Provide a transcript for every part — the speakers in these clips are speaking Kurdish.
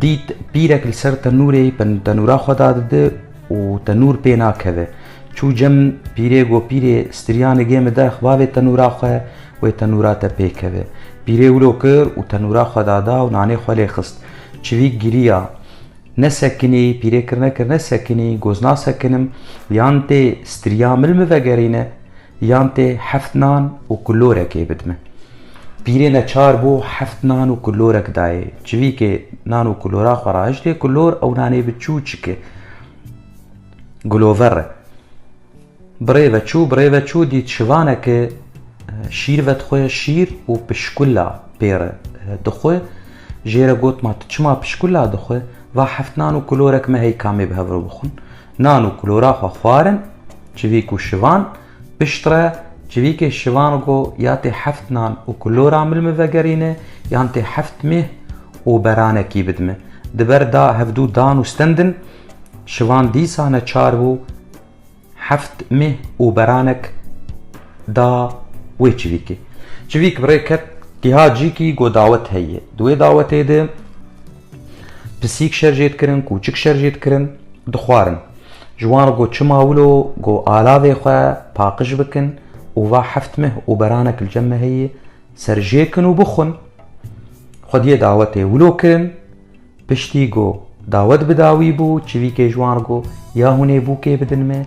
Dît pîrek li ser tenûrê tenûra xwe dadide û tenûr pê nakeve. Çû cem pîrê got pîrê stirîya nigê min derx bavê tenûra xwe wê tenûra te pê keve. Pîrê wilo kir û tenûra xwe dada û nanê xwe lê xist. Çivîk girîya. Ne sekinî, pîrê kirine kirine sekinî, got nasekinim, yan tê stirîya min li min vegerîne. Yan tê heft nan û kulorekê bidme. Pîrê neçar bû heft nan û kulorek dayê. Çivîkê nan û kulora xwe rahiştê, kulor ew nanê bi çû çike. Gulover e. Birê ve çû, birê ve çû dît şivaneke şîr vedixwe, şîr û pişkula pê re dixwe. Jê re got ma tu çima pişkula dixwe, va heft nan û kulorek me heyka mê bi hev re bixwin. Nan û kulora xwe xwarin, civîk û şivan, piştre, civîkê şivan go ya tê heft nan û kulora mil min vegerîne yan tê heft mih û beranekî bidime. Di ber da hevdû dan û stendin, şivan dîsa neçar bû heft mih û beranek da wê civîkê. Civîk bi rê ket, giha cîkî go dawet heye. Di wê dawetê de Pisîk şer jê dikirin, kûçik şer jê dikirin, dixwarin. Ji wan re got çima wilo got alavê xwe paqij bikin û va heft meh û beranek li cem me heye ser jê kin û bixwin. Xwediyê dawetê wilo kirin, piştî got dawet bi dawî bû, çivîkê ji wan re got ya hûnê bûkê bidin me,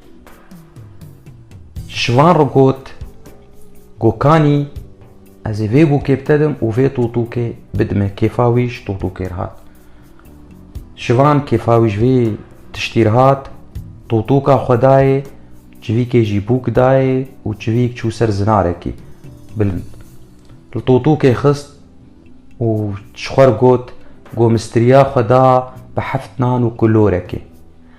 Ji van re got, Gokanî ez ê vê bûkê bitedim û vê tûtûkê bidime. Kêfa wî ji tûtûkê re hat. Ji van kêfa wî ji vê tiştî re hat, tûtûka xwe dayê, çivîkê jî bûk dayê û çivîk çû ser zinarekî bilind. Li tûtûkê xist û ji xwe re got, Gomistiriya xwe da bi heft nan û kulorekê.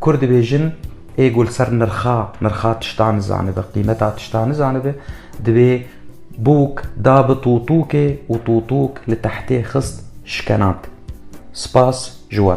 Kurd dibêjin, Ê ku li ser nirxa nirxa tiştan nizanibe, qîmeta tiştan nizanibe, divê bûk da bi tûtûkê û tûtûk li tehtê xist şkenand. Spas ji we.